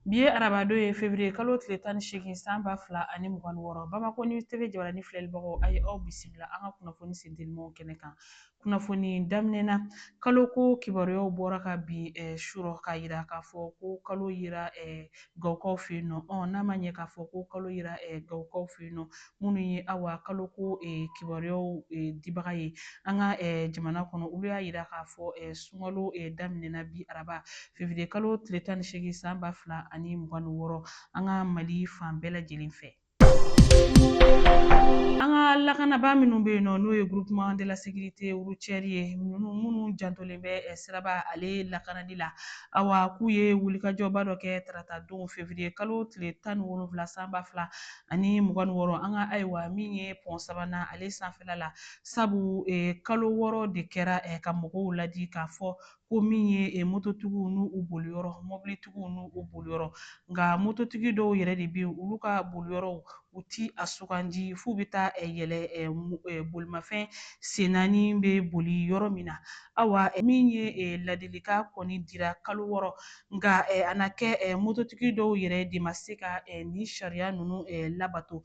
Bi ye arabadon ye fevriye kalo tile tan ni seegin san ba fila ani mugan wɔɔrɔ bamakɔ News TV jabaranin filɛlibagaw a ye aw bisimila an ka kunnafoni sentelimanw kɛnɛ kan kunnafoni daminɛna kalo ko kibaruyaw bɔra kabi eh, surɔ k'a yira k'a fɔ ko kalo yira eh, gawukaw fɛ yen nɔ ɔ n'a ma ɲɛ k'a fɔ ko kalo yira eh, gawukaw fɛ yen nɔ minnu ye awa kalo ko kibaruyaw dibaga ye an ka jamana kɔnɔ olu y'a yira k'a fɔ sunkalo daminɛna bi araba fevriye kalo tile tan ni seegin san ba fila ani mugan ni wɔɔrɔ an ka mali fan bɛɛ lajɛlen fɛ an ka lakanabaa minnu bɛ yen nɔ n'o ye groupement de la sécurité routière ye minnu jantolen bɛ eh, siraba ale lakanali la awa k'u ye wulikajɔba dɔ kɛ tarata don fevriye kalo tile tan ni wolonwula san ba fila ani mugan ni wɔɔrɔ an ka ayiwa min ye pɔn sabanan ale sanfɛla la sabu kalo wɔɔrɔ de kɛra ka mɔgɔw ladi k'a fɔ ko min ye eh, mototigiw n'u u boliyɔrɔ mɔbilitigiw n'u u boliyɔrɔ nka mototigi dɔw yɛrɛ de bɛ yen olu ka boliyɔrɔw u ti a sugandi f'u bɛ taa eh, yɛlɛ eh, bolimafɛn sen naani bɛ boli yɔrɔ min na awa min ye ladilikan kɔni dira kalo wɔɔrɔ Nka a na kɛ mototigi dɔw yɛrɛ de ma se ka nin sariya ninnu labato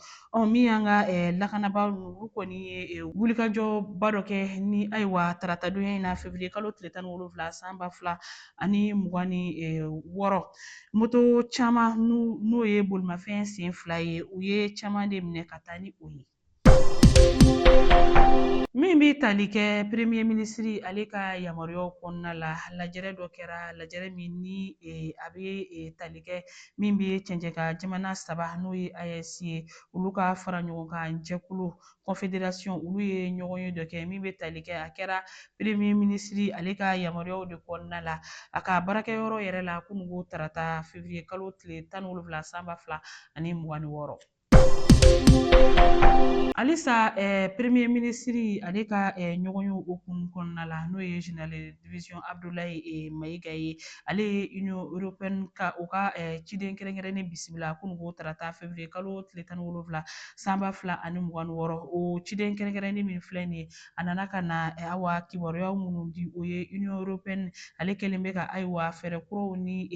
min y'an ka lakanabaa ninnu olu kɔni ye wulikajɔba dɔ kɛ ni ayiwa taratadonya in na février kalo tile tan ni wolonwula san ba fila ani mugan ni wɔɔrɔ moto caman n'o ye bolimafɛn sen fila ye u ye caman de minɛ ka taa ni o ye min bɛ tali kɛ premier minisiri ale ka yamaruyaw kɔnɔna la lajɛrɛ dɔ kɛra lajɛrɛ min ni eh, a bɛ eh, tali kɛ min bɛ cɛncɛn kan jamana saba n'o ye AES ye olu ka fara ɲɔgɔn kan jɛkulu confédération olu ye ɲɔgɔn ye dɔ kɛ min bɛ tali kɛ a kɛra premier minisiri ale ka yamaruyaw de kɔnɔna la a ka baarakɛyɔrɔ yɛrɛ la kununko tarata février kalo tile tan ni wolonwula san ba fila ani mugan ni wɔɔrɔ Halisa premier minisiri ale ka ɲɔgɔnye hukumu kɔnɔna la n'o ye général division Abudulayi Mayiga ye ale ye union européenne ka u ka ciden kɛrɛnkɛrɛnnen bisimila kununko tarata fevriye kalo tile tan ni wolonwula san ba fila ani mugan wɔɔrɔ o ciden kɛrɛnkɛrɛnnen min filɛ nin ye a nana ka na awa kibaruya minnu di o ye union européenne ale kɛlen bɛ ka ayiwa fɛɛrɛ kuraw ni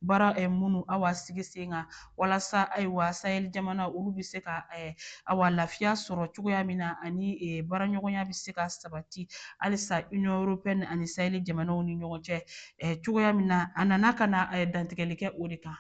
baara minnu awa sigi sen kan walasa ayiwa sahɛli jamana olu bɛ se ka eh, awa lafiya sɔrɔ cogoya min na ani eh, baaraɲɔgɔnya bɛ se ka sabati halisa union européenne ani sahɛli jamanaw ni ɲɔgɔn cɛ eh, cogoya min na a nana ka na dantigɛli kɛ o de kan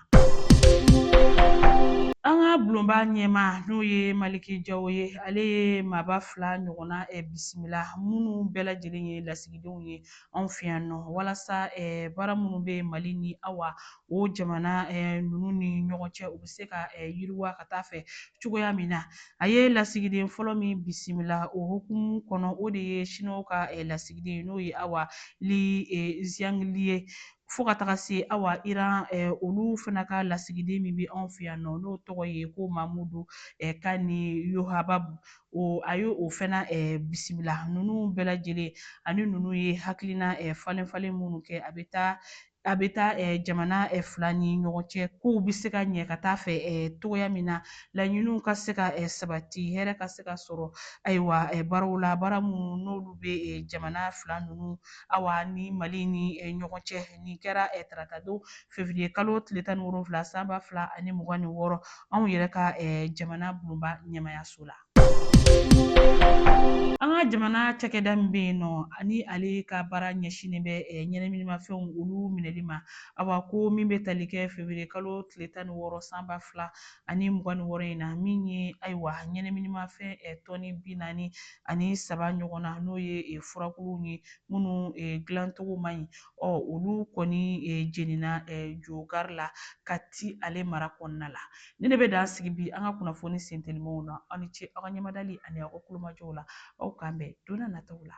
An ka bulonba ɲɛmaa n'o ye Maliki Jawo ye, ale ye maaba fila ɲɔgɔnna eh, bisimila minnu bɛɛ lajɛlen ye lasigidenw ye anw fɛ yan nɔ walasa eh, baara minnu bɛ Mali ni awa o jamana ninnu ni ɲɔgɔn cɛ u bɛ se ka yiriwa ka taa fɛ cogoya min na a ye lasigiden fɔlɔ min bisimila o hukumu kɔnɔ o de ye siniwaw ka lasigiden n'o ye awa li ziyangili ye fo ka taga se awa iran olu fana ka lasigiden min bɛ anw fɛ yan nɔ n'o tɔgɔ ye ko mamudu kani yohababu a ye o fana bisimila ninnu bɛɛ lajɛlen ani ninnu ye hakilina falen falen minnu kɛ a bɛ taa a bɛ taa eh, jamana eh, fila ni ɲɔgɔn cɛ kow bɛ se ka ɲɛ ka taa fɛ eh, cogoya min na laɲiniw ka se ka sabati hɛrɛ ka se ka sɔrɔ ayiwa baaraw la baara minnu n'olu bɛ jamana fila ninnu awa ni mali ni ɲɔgɔn cɛ nin kɛra taratadon fevriye kalo tile tan ni wolonfila san ba fila ani mugan ni wɔɔrɔ anw yɛrɛ ka jamana bulonba ɲɛmaayaso la An ka jamana cakɛda min bɛ yen nɔ ani ale ka baara ɲɛsinnen bɛ eh, ɲɛnaminimafɛnw olu minɛli ma awa ko min bɛ tali kɛ fevriye kalo tile tan ni wɔɔrɔ san ba fila ani mugan ni wɔɔrɔ in na min ye ayiwa ɲɛnaminimafɛn eh, tɔni bi naani ani saba ɲɔgɔn na n'o ye eh, furakuluw ye minnu eh, dilancogo man ɲi ɔ olu kɔni eh, jenina eh, jogari la kati ale mara kɔnɔna la Nin de bɛ dan sigi bi an ka kunnafoni sentelimaw na aw ni ce aw ka ɲɛmadali ani aw ka kulomajɔw la aw k'an bɛn donna nataw la